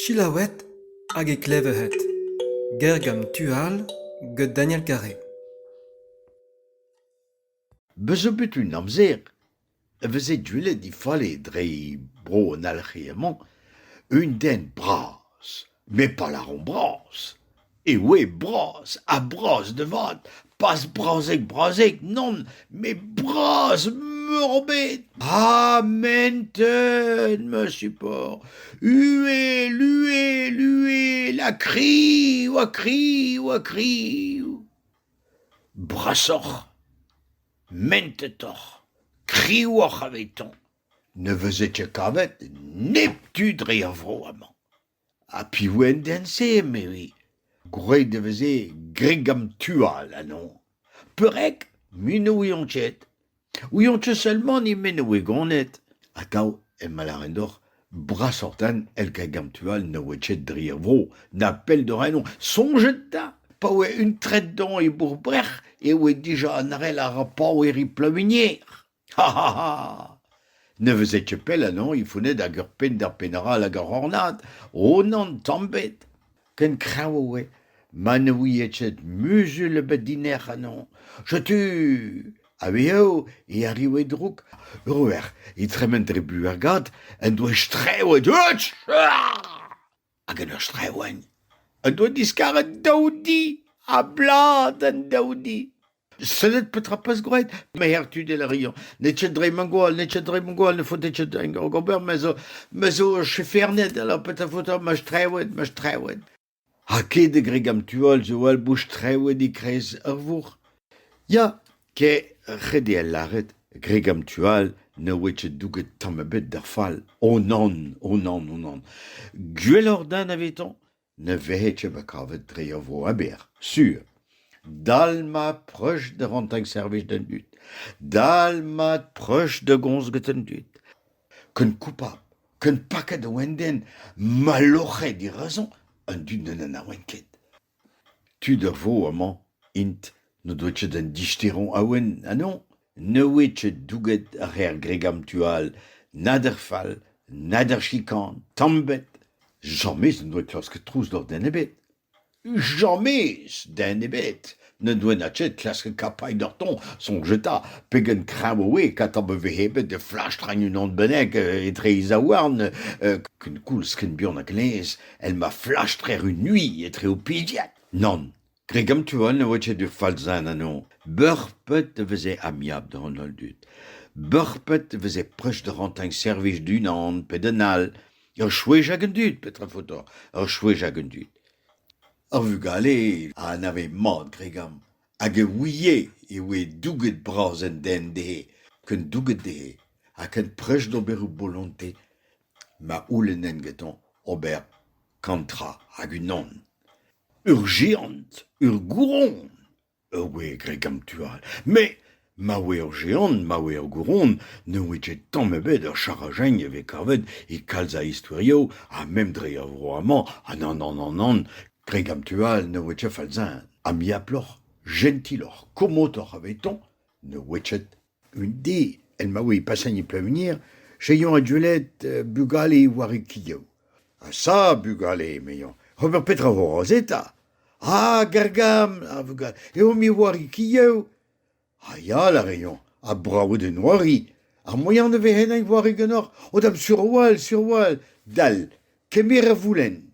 Selaouet hag e klevet Gergent tu all get Daniel Carré. Bez zo bet un amzer e veze deuet difale dre bro an alc'hier-mañ un den bras met pa lâromp bras e oe bras ha bras da vat pas brazhek-brazhek nann met bras-meurbet ha mentet ma support uhel uhel uhel ha kriv ha kriv ha kriv brasoc'h mentetoc'h kriwoc'h avetañ Ne veze ket kavet neptu dre ar vro amañ. Ha piv en deent-se, emezi? Gwraet e veze gregam-tual anezhoñ. Peurreg mui ne ouiont ket. Ouiont ket seulement he meno e goned. Atav emañ lâret deoc'h brasoc'h-tan el gregam-tual ne oa ket dre ar vro, na pell da renomp. Soñjet 'ta, pa oa un tred-doñ e Bourbrec'h, e oa dija an arell a ra pav e ri Plavinier. Ne veze ket pell ennañ e vouned hag ur penn d'ar penn-all ag ar c'hornad, Ronan tamm ebet. Ken kreñv e oe ma ne ouie ket muzul ebet dinec'h ennañ. Setu a-wezhoù e arrive droug. Ur wer, e tremen dre Buergad, en doa strew e deuz. hag en ur streouenn en doa diskaret daou di a-blad an daou di. Sellet petra 'peus gwraet? Maer Tudel a riañ. N'eo ket dre ma gwall, n'eo ket dre ma gwall, ne faot ket ur ober, me zo, me zo chefernet, alors petra faot ma streouenn, ma streouenn. Ha ket e gregam tu all zo all bouch streouenn e-kreiz ur vourc'h. Ya, Kae a c'hredje al lâret Gregg an tu all ne oe ket douget tamm ebet d'ar fall. O nann, o nann, o nann. Gwelloc'h da anavetañ ne vehe ket bet kavet dre ur vro aber, sur. Dal mat preuz da rentañ servij d'an dud. Dal mat preuz da gomz get an dud. Ken koupabl, ken paket a oan den, ma loc'he dirazañ, an dud n'en anaoent ket. tud a vo amañ int n'o doa ket an disterañ awen ha non ne oe ket douget ar c'her gregamm tu all nag ar fall nag ar chikan tamm ebet james n'en doa klasket trouzlof den ebet james den ebet n'en doa na ket klasket kapailh doc'htoñ soñj eta pegen kreñv oe kata ma vehe bet da flastrenn unan bennak etre e zaouarn kenkoulz ken buan hag laezh El ma flastr erru mui etre ho pizied ? Nann. Dre gamtuan e oa aet ur falzad anezhañ. Beurpet e veze amiabl doc'h an holl dud. Beurpet e veze prest da rantañ servij d'unan pe d'an all. Ur chwech hag an dud, petra faotoc'h ? Ur chwech hag an dud. Ar vugale a anave mat, Gregam, hag e ouie e oe douget-bras an den dezhe, ken douget dezhe ha ken prest d'ober o bolontez. ma c'houlennent gantañ ober kantra hag unan. Ur jeant, ur gouron, ur gwez graet gant tu all. Met ma oa ur jeant, ma oa ur gouron, ne oa ket tamm ebet ur charajagn a vez kavet e kalz a istorioù ha mem dre er vro amañ ha nann, nann, nann, nann, graet gant tu all ne oa ket fall-zen. Ha miaploc'h, jentiloc'h, komotoc'h avetañ ne oa ket. Un di el ma oe passennet Plavenir c'hellomp adwelet bugale warikioù. Ha ça, bugale, emezañ, ober petra vo roz eta? Ah, gargam, a vugale, eo me warikioù. Ha ya, a reomp, ha brav eo d'en c'hoari. Ar moaien da vezañ en wareg ganeoc'h o dam sur-walc'h, sur-walc'h, dal, kemer a voulenn.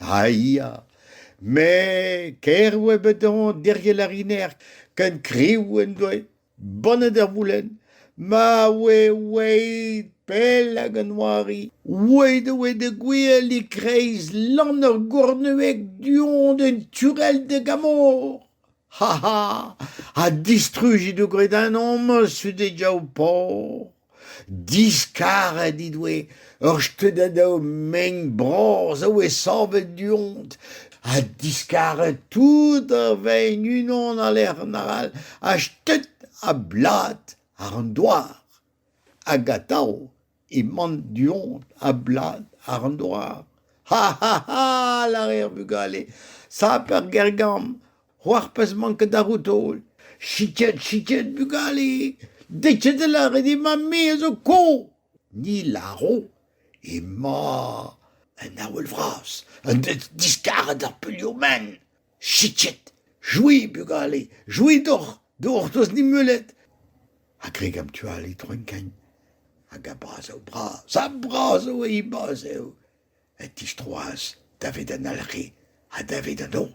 ha ya me ker e oa bet hoñ diriell ar inec'h ken kriv en doe bonnet ar voulenn ma oe oeit pell hag an oari oeit e oe da gouel e-kreiz lann ur gournueg du-hont d'un turell da gamor Ha ha! ha distrujit ho gredanomp sude diaoù Paour! Diskaret he doe ur steudadenn mein bras a oe savet du-hont ha diskaret tout a vein unan a-lerc'h an arall ha stet a-blad àr an douar hag atav Emaon du-hont a-blad àr an douar. Ha ha ha! lâre ar vugale. Sap ar Gergamm, c'hoarvezh 'mañ ket da roudol. Siket, siket, bugale! Dechet e lâret dit ma me a zo ko! Ni lâro emañ un avel vras, un dud diskaret ar peulioù-men. Sichet, c'hwi, bugale, c'hwi deoc'h, deoc'h 'teus nemeulet. A greg an tu all e droenkain hag a-bras eo bras ha bras eo he baz eo. E tistroas daved an alc'he ha daved an hañv.